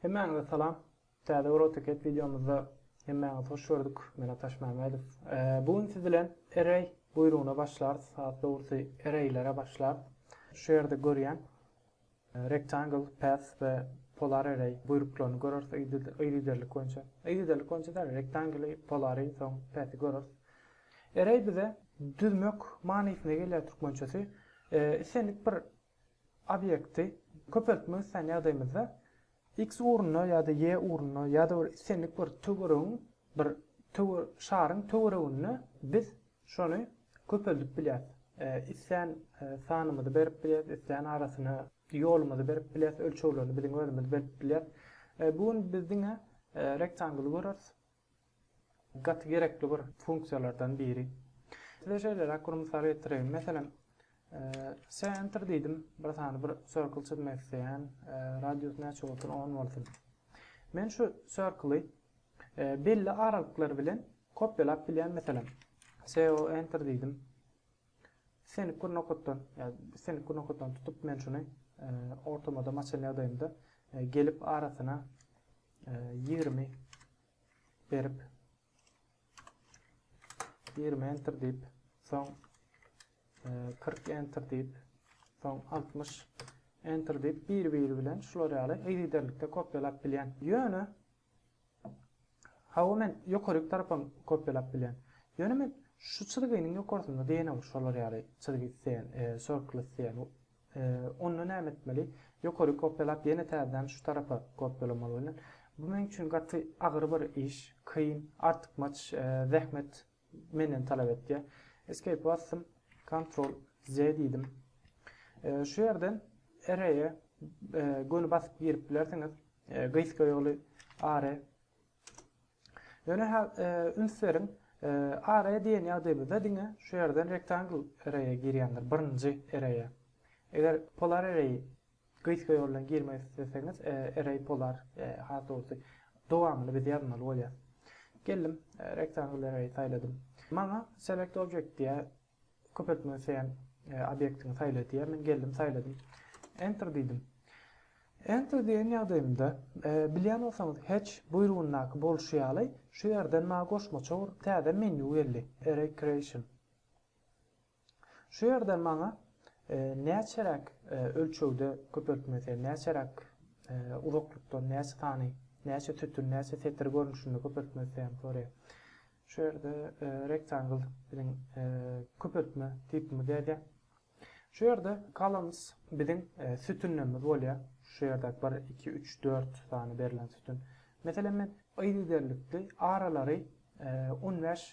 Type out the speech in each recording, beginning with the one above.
Hemmäňize salam. Täze bir AutoCAD wideomyzda hemmäňizi hoş gördük. Men Ataş Mämedow. Bu gün siz bilen array buýrugyna başlarys. Has dogrusy arraylere başlarys. Şu ýerde görýän Rectangle, Path we Polar Array buýruklaryny göreris yzygiderlik boýunça. Yzygiderlik boýunça däl, Rectangle-i, Polar-y, soň Path-i göreris. Array bize düzmek manysyna gelýär türkmençesi. Islendik bir obýekti köpeltmek isleýän ýagdaýymyzda X ugruna ýa-da Y ugruna ýa-da bir islendik bir töweregiň bir şaryň töwereginde biz şony köpeldip bilýäris. Islän sanymyzy berip bilýäris, islän arasyna ýolumyzy berip bilýäris, ölçeglerini biziň özümiz berip bilýäris. Bu gün biz diňe rektangly göreris. Gaty gerekli bir funksiýalardan biri. Size şeýleräk bir mysal getireýin. Meselem, Sen enter diýdim. Bir sany bir circle çyzmak isleýän. Radius näçe bolsun? 10 bolsun. Men şu circle-y belli aralyklar bilen kopýalap bilýän meselem. CO enter diýdim. Islendik bir nokatdan, ýa-da islendik bir nokatdan tutup men şuny ortamada maçan ýagdaýynda gelip arasyna 20 berip 20 enter deyip soň 40 e, enter deyip soň 60 enter deyip bir-biri bilen şular ýaly yzygiderlikde kopýalap bilýän. Ýöne hawa men ýokaryk tarapa kopýalap bilýän. Ýöne men şu çyzgynyň ýokarsynda diýen şolar ýaly çyzgy isleýän, e, circle isleýän. Onda näme etmeli? Ýokary kopýalap ýene täzeden şu tarapa kopýalamaly welin, bu meň üçin gaty agyr bir iş, kyn, artykmaç zähmet menden talap etýär. Escape basdym, Ctrl Z diýdim. Şu ýerden Array-e göni basyp girip bilersiňiz. Gysga ýoly Are. Ýöne ha üns beriň, array diýen ýagdaýymyzda diňe şu ýerden rectangle array-e girýändir, birinji array-e. Eger polar array gysga ýol bilen girmek isleseňiz, array polar, has dogrusy, dowamyny biz ýazmaly bolýar. Geldim, rectangle array saýladym. Maňa select object diýýär. Köp etmez sen obýektiňi saýla diýýär. Men geldim saýladym. Enter diýdim. Enter diýen ýagdaýymda, bilýän bolsaňyz, Hatch buýrugyndaky bolşy ýaly, şu ýerden maňa goşmaça urup täze menýu geldi, Array Creation. Şu ýerden maňa näçeräk ölçegde köpeltme sen näçeräk uzaklykdan näçe sany, näçe sütün, näçe setir görnüşinde köpeltme sen sorýar. Şu ýerde Rectangle biziň köpeltme tipimiz ýazýar. Şu ýerde Columns biziň sütünlerimiz bolýar. Şu ýerdäki bir, iki, üç, dört sany berlen sütün. Meselem, men yzygiderlikli aralary on bäş,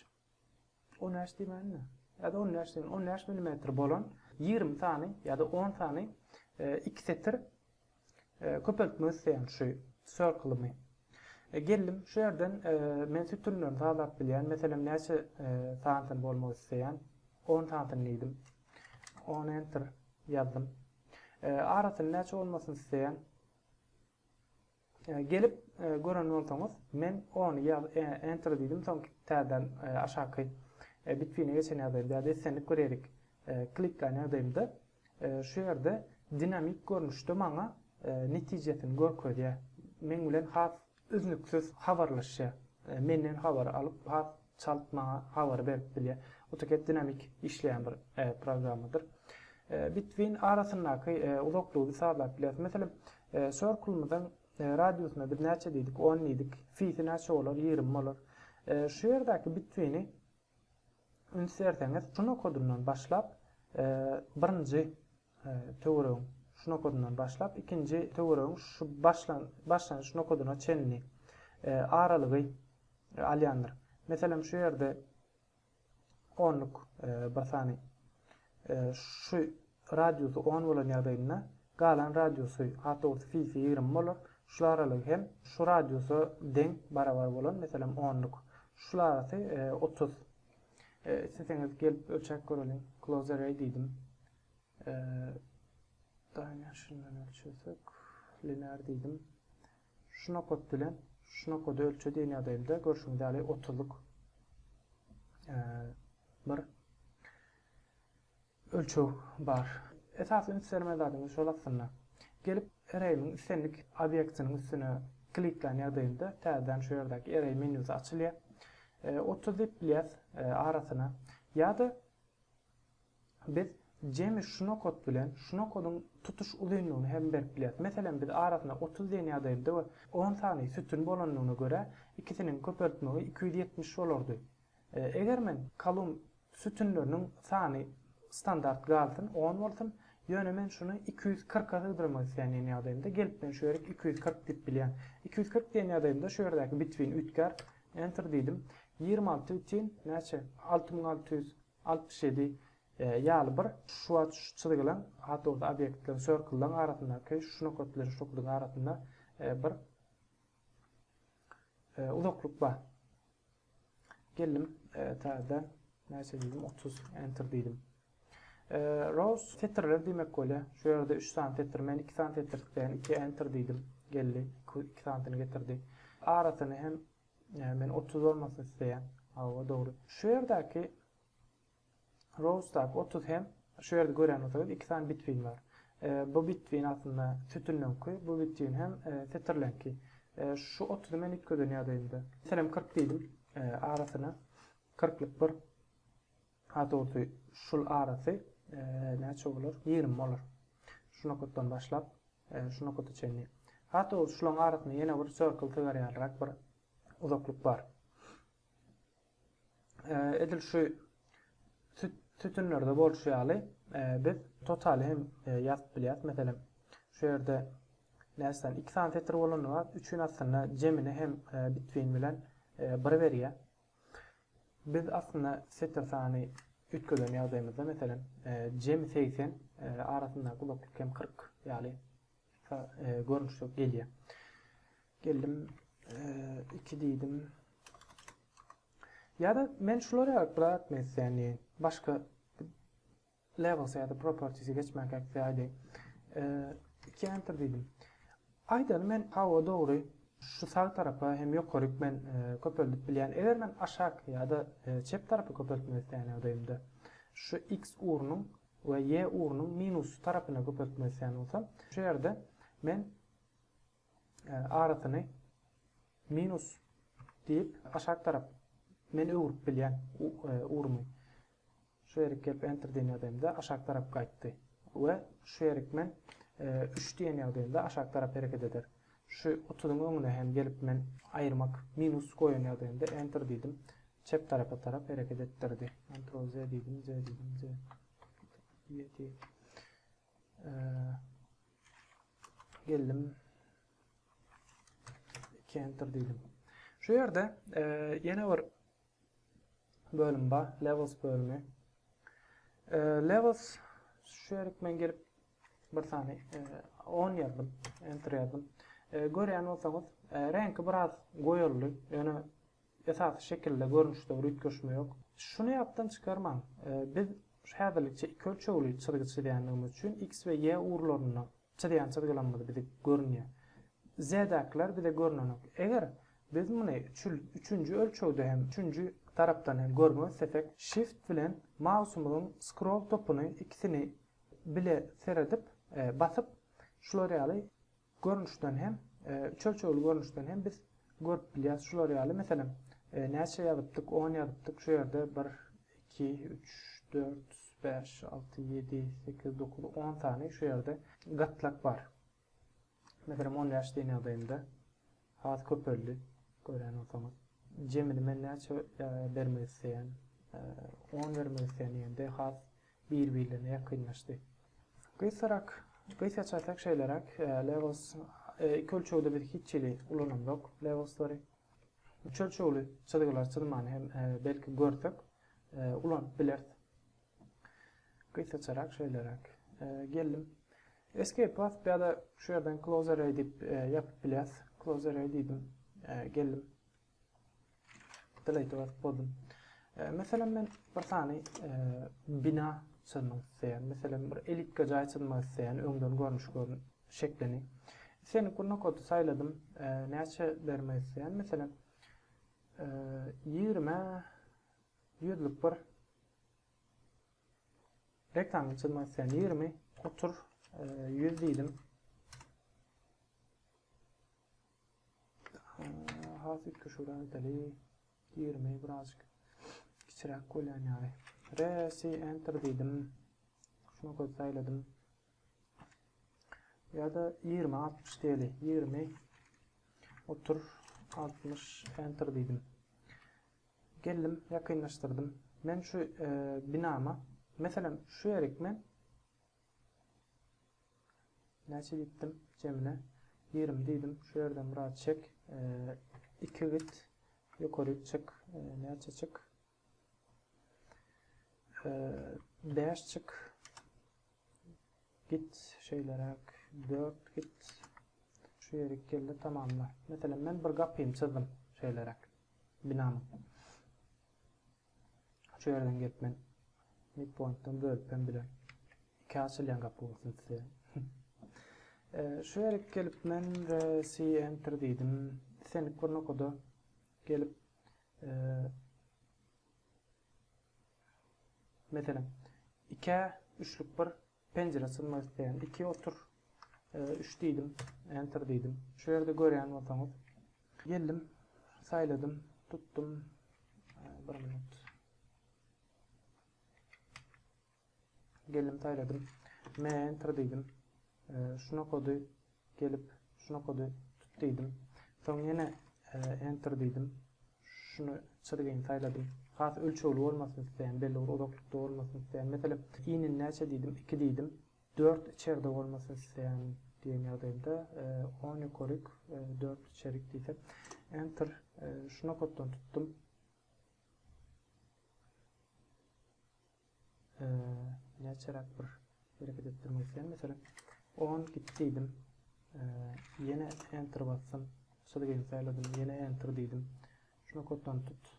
on bäş diýmäýin-de, ýa-da on bäş diýeýin, on bäş millimetr bolan ýigrimi sany ýa-da on sany iki setir Köpeltmek isleýän şu circle-ymy. Geldim şu ýerden men sütünlerini salap bilýän. Meselem näçe santyn bolmak isleýän. 10 santyn diýdim. 10 enter ýazdym. Arasyny näçe bolmasyn isleýän. Gelip gören bolsaňyz men 10 ýaz enter diýdim soň täzeden aşaky bitwine geçen ýagdaýymda ýa-da islendik bir ýerik klikleýän ýagdaýymda Şu ýerde dinamik görnüşde maňa netijesini görkezýär. Meň bilen has üznüksiz habarlaşýar. Menden habar alyp has çalt maňa habar berip bilýär. Autocad dinamik işleýän bir programmadyr. Between arasyndaky uzaklygy saýlap bileris. Meselem, circle-myzyň radiusyna biz näçe diýdik? On diýdik. Phi-si näçe bolar? Ýigrimi bolar. Şu ýerdäki between-i Üns berseňiz, şu nokadyndan başlap, birinji töweregiň şu nokadyndan başlap, ikinji töweregiň şu başlanyş nokadyna çenli aralygy alýandyr. Meselem, şu ýerde onluk bir sany Şu radiusy on bolan ýagdaýynda galan radiusy, at dogrusy fisi ýigrimi bolar. Şul aralygy hem şu radiusa deň, barabar bolan, meselem, onluk. Şul arasy otuz. Isleseňiz gelip ölçäp göreliň. Close array diýdim. Dimension-dan ölçesek, linear diýdim. Şu nokat bilen şu nokady ölçe diýen ýagdaýymda görşüňiz ýaly otuzlyk bir ölçeg bar. Esasy üns bermeli zadyňyz şol aslynda. Gelip ereýimiň islendik obýektiniň üstüne kliklän ýagdaýymda täzeden şu ýerdäki ereý menýusy açylýar. Otuz diýip bilýäs arasyna ýa-da Biz jemi şu nokat bilen şu nokadyň tutuş uzynlygyny hem berip bilýäris. Meselem, biz arasynda otuz diýen ýagdaýynda we on sany sütün bolandygyna görä, ikisiniň köpeltmegi iki ýüz ýetmiş bolardy. Eger men kolumn sütünleriniň sany standart galsyn, on bolsun, ýöne men şuny iki ýüz kyrka sygdyrmak isleýän diýen ýagdaýymda, gelip men şu ýerik iki ýüz kyrk diýip bilýän. Iki ýüz kyrk diýen ýagdaýymda şu ýerdäki bitwin üýtgär. Enter diýdim. Ýigrimi alty ütyn, näçe? Alty müň alty ýüz. Altmyş ýedi ýaly bir şu wagt şu çyzgylaň awtobus obýektleriň circle-laň arasyndaky şu nokat bilen şu nokadyň arasynda bir uzaklyk bar. Geldim täzeden näçe diýdim otuz enter diýdim. Rows setirler diýmek bolýa. Şu ýerde 3 sany setir, men 2 sany setir tıklaýan, 2 enter diýdim. Geldi, 2 sanysyny getirdi. Arasyny hem Ýa men otuz bolmasyn isleýän. Hawa dogry. Şu ýerdäki Rowsdaky otuz hem şu ýerde gören bolsaňyz iki sany bitwin bar. E, bu bitwin aslynda sütünleňki, bu bitwin hem e, setirleňki. E, şu otuzy men üýtgeden ýagdaýymda. Sen hem kyrk diýdim e, arasyna. Kyrklyk bir. Haturdy şul arasy näçe bolar? Ýigrimi bolar. Şu nokatdan başlap, şu nokata çenli. Haturdy şulaň arasynda ýene bir circle tygar ýalyrak bir uzaklyk bar. Edil şu sütünlerde bolşy ýaly, biz totaly hem ýazyp bilýäris. Meselem, şu ýerde näçeden iki sany setir bolanda, üçüň aslynda jemini hem bitwin bilen bir berýär. Biz aslynda sete sany üýtgeden ýagdaýymyzda, meselem, jemi segsen, arasyndaky uzaklyk hem kyrk ýaly görnüşde gelýär. Geldim, iki diýdim. Ýa-da men şulara ykrar etmek isleýän diýen. Başga Levels ýa-da properties-e geçmän käkdi aýdaýyn. Iki enter diýdim. Aýdaly men hawa dogry şu sag tarapa hem ýokaryk men köpeldip bilýän. Eger men aşak ýa-da çep tarapy köpeltmek isleýän ýagdaýymda şu x ugrunyň we y ugrunyň minusly tarapyna köpeltmek isleýän bolsam şu ýerde men arasyny minus diýip aşak tarap men öwrüp bilýän ugrumy. Şu ýerik gelip enter diýen ýagdaýymda aşak tarap gaýtdy we şu ýerik men üç diýen ýagdaýymda aşak tarap hereket eder. Şu otuzyň öňüne hem gelip men aýyrmak minus goýan ýagdaýymda enter diýdim çep tarapa tarap hereket etdirdi. Ctrl Z diýdim, Z diýdim, Z. Ýeti. Geldim. Enter diýdim. Şu ýerde ýene bir bölüm bar. Levels bölümi. E, levels şu ýerik men gelip bir sany e, 10 ýazdym. Enter ýazdym. E, görýän bolsaňyz, e, reňki biraz goýuldy. Ýöne esasy şekilde görnüşde bir üýtgeşme ýok. Şuny ýatdan çykarmaň. E, biz häzirlikçe iki ölçegli çyzgy çyzýanymyz üçin x we y ugurlaryna Çyzýan çyzgylarymyz bize görünýär. Zädäkiler bize görnenok. Eger biz muny üçünji ölçegde hem, üçünji tarapdan hem görmek islesek, Shift bilen mausymyzyň scroll topuny ikisini bile seredip, basyp, şular ýaly görnüşden hem, üç ölçegli görnüşden hem biz görüp bilýäris. Şular ýaly, meselem, näçe ýazypdyk, on ýazypdyk, şu ýerde bir, iki, üç, dört, Bäş, alty, ýedi, sekiz, dokuz, on sany şu ýerde gatlak bar. Meselem, on bäş diýen ýagdaýymda has köpeldi. Görýän bolsaňyz. Jemini men näçe bermek isleýän? On bermek isleýän diýende has bir-birlerine ýakynlaşdy. Gysgarak, gysga çekseň şeýleräk, levels iki ölçegde biz hiç hili ulanamzok levelslary. Üç ölçegli çyzgylar çyzmany hem belki görsek, ulanyp bileris. Gysgaçarak şeýleräk. Geldim. Escape basyp ýa-da şu ýerden close array diýip ýapyp bileris. Close array diýdim. Geldim. Delete basyp boldum. Meselem men bir sany bina çyzmak isleýän. Meselem, bir elipga jaý çyzmak isleýän, öňden görnüş görün şeklini. Sen gurna kody saýladym. Näçe bermek isleýän? Meselem, Ýigrimi ýüzlük bir reklama çyzmak isleýän ýigrimi otur ýüz diýdim. Has üýtgeşigräk edeli ýigrimi birazjyk kiçiräk bolýan ýaly. Resi enter diýdim. Şunu göz saýladym. Ýa-da ýigrimi altmyş diýeli. Ýigrimi otur altmyş enter diýdim. Geldim, ýakynlaşdyrdym. Men şu e, binama, meselem, şu ýerik men näçe diýdim jemine 20 diýdim. Şu ýerden biraz çek. 2 e, git. Ýokary çyk. E, näçe çyk? Bäş çyk. Git şeýleräk. Dört git. Şu ýeri geldi tamamla. Meselem men bir gapyny çyzdym şeýleräk. Binany. Şu ýerden gelip men midpointdan bölüp hem bilen. Iki açylýan gapy bolsun size. Şu ýere gelip men C enter diýdim. Senik bir nokada gelip Meselem, ikä üçlük bir penjire synmak isleýän. Iki otur, üç diýdim, enter diýdim. Şu ýerde görýän bolsaňyz, geldim, saýladym, tutdum. Bir minut. Geldim saýladym. Me enter diýdim. Şuna kody gelip şuna kody tut diýdim. Soň ýene enter diýdim. Şuny çyzgyny saýladym. Has ölçegli bolmasyny isleýän, belli bir uzaklykda bolmasyny isleýän. Meselem, inin näçe diýdim, 2 diýdim. 4 içerde bolmasyny isleýän diýen ýagdaýymda, 10 ýokaryk, 4 içerik diýsek. Enter. Şuna koddan tutdum. Näçeräk bir hereket etdirmek isleýän. Meselem, on git diýdim. Ýene enter basdym. Şol gelin saýladym. Ýene enter diýdim. Şuna kodlanyp tut.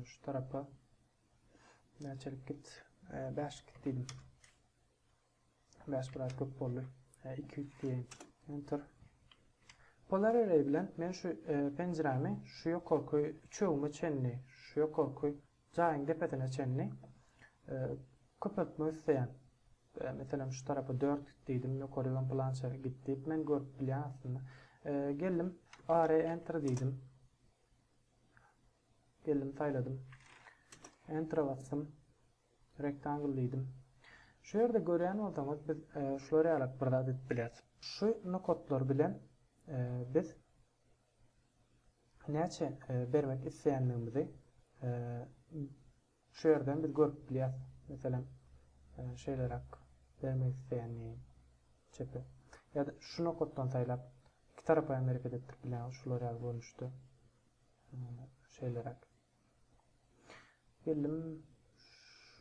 Şu tarapa näçelik git? Bäş git diýdim. Bäş biraz köp boldy. Hä, iki üç diýeýin. Enter. Polar array bilen men şu e, penjirämi şu ýokarky üçegime çenli, şu ýokarky jaýyň depesine çenli e, köpeltmek isleýän. E, meselem şu tarapa 4 diýdim, ýokary hem plança git diýip men görüp bilýän aslynda. E, geldim, array enter diýdim. Geldim, saýladym. Enter basdym. Rektangl diýdim. Şu ýerde görýän bolsaňyz biz şular ýalak bir zat edip bileris. Şu nokatlar bilen biz näçe bermek isleýändigimizi şu ýerden biz görüp bilýäs. Meselem şeýleräk bermek isleýändim. Çepe. Ýa-da şu nokatdan saýlap iki tarapa hem hereket etdirip bilen şular ýaly görnüşde şeýleräk. Geldim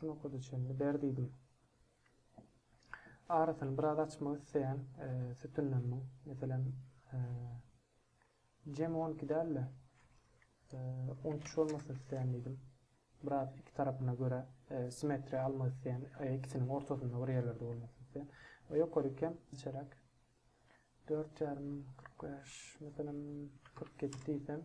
şu nokada çenli ber diýdim. Arasyny biraz açmak isleýän e, sütünlerimiň, meselem, e, jem 12 däl-de, 13 e, bolmasyn isleýän diýdim. Biraz iki tarapyna görä simmetriýa almak isleýän, ikisiniň ortasynda bir ýerlerde bolmasyn isleýän. We ýokary kem içeräk 4,5 45 meselem 47 diýsem,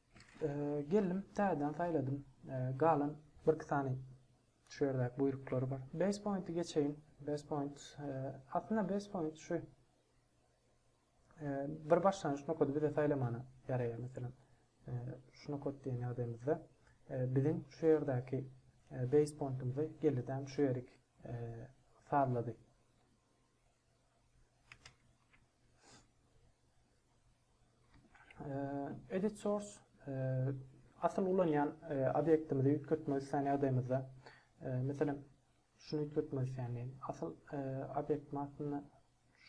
Geldim, täzeden saýladym. Galan birki sany şu ýerdäki buýruklary bar. Base pointy geçeýin. Base point aslynda base point şu bir başlangyç nokady bize saýlamana ýaraýar meselem. Şu nokat diýen ýagdaýymyzda biziň şu ýerdäki base pointimizi geldi şu ýerik sazlady. Edit source asyl ulanýan obýektimizi üýtgetmek isleýän ýagdaýymyzda, meselem, şuny üýtgetmek isleýän diýin. Asyl obýektiň adyny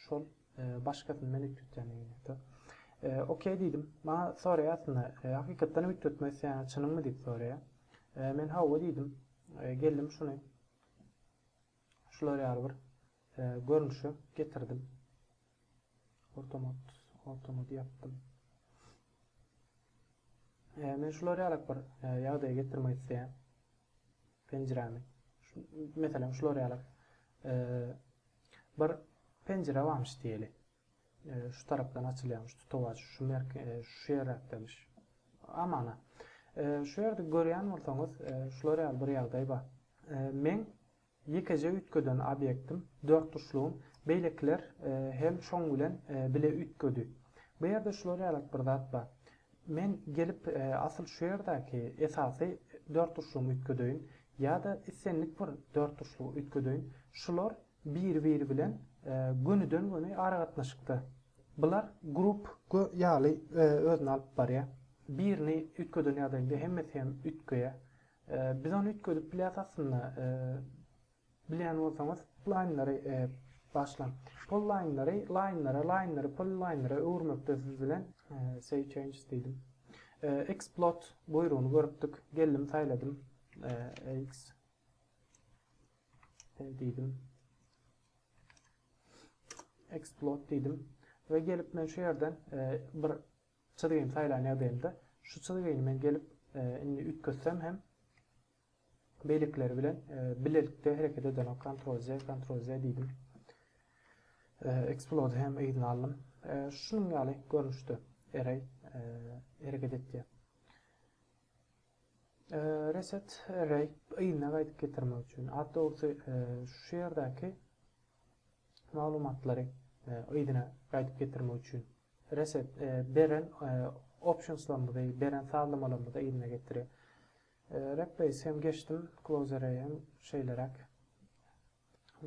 şol başgasyny men üýtgetýän diýin. OK diýdim. Maňa soraýar aslynda, hakykatdan hem üýtgetmek isleýän çynyňmy diýip soraýar. Men hawa diýdim. Geldim şuny. Şular ýaly bir görnüşe getirdim. Ortamod, ortamod ýapdym. E, men şular ýaly bir e, ýagdaýa getirmek isleýän penjirämi. Şu, meselem şular ýaly e, bir penjire barmyş diýeli. Şu tarapdan açylýarmyş tutawaç, şu merke, şu ýerräkdemiş. Amana. Şu ýerde görýän bolsaňyz, şular ýaly bir ýagdaý bar. Meň ýekeje üýtgeden obýektim, dörtburçlugym, beýlekiler hem şoň bilen bile üýtgedi. Bu ýerde şular ýaly bir zat bar. Men gelip asyl şu ýerdäki esasy dörtburçlugymy üýtgedeýin ýa-da islendik bir dörtburçlugy üýtgedeýin. Şular bir-biri bilen gönüden-göni aragatnaşykda. Bular grup ýaly özüni alyp barýar. Birini üýtgeden ýagdaýynda hemmesi hem üýtgeýär. Biz ony üýtgedip bilýäs aslynda. Bilýän bolsaňyz, laýnlary bagyşlaň. Polilaýnlary laýnlara, laýnlary polilaýnlara öwürmekde siz bilen Save Changes diýdim. Explode buýrugyny görüpdik. Geldim, saýladym. Ex. Sen diýdim. Explode diýdim. Ve gelip men şu yerden e, bir çizgini saýlan ýagdaýymda şu çizgini men gelip e, indi üýtgetsem hem beýlekileri bilen e, bilelikde hereket eden kontrol Z, kontrol Z diýdim. E, explode hem yzyna aldym. E, şunuň ýaly görnüşde array e, hereket etdi. Reset Rate yzyna gaýdyp getirmek üçin, awtobusy şu ýerdäki maglumatlary yzyna gaýdyp getirmek üçin Reset beren optionslarymyzy, beren sazlamalarymyzy yzyna getirýär. Replace hem geçdim, Close Array hem şeýleräk.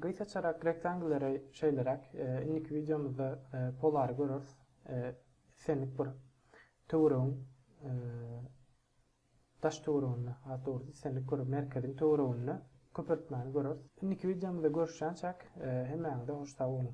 Gysgaçarak rektangleri şeýleräk, indiki wideomyzda polary göreris, islendik bir töweregiň daş töwereginde, has dogrusy islendik bir merkeziň töwereginde köpeltmäni göreris. Indiki wideomyzda görüşýänçäk, hemmäňize hoş sag boluň!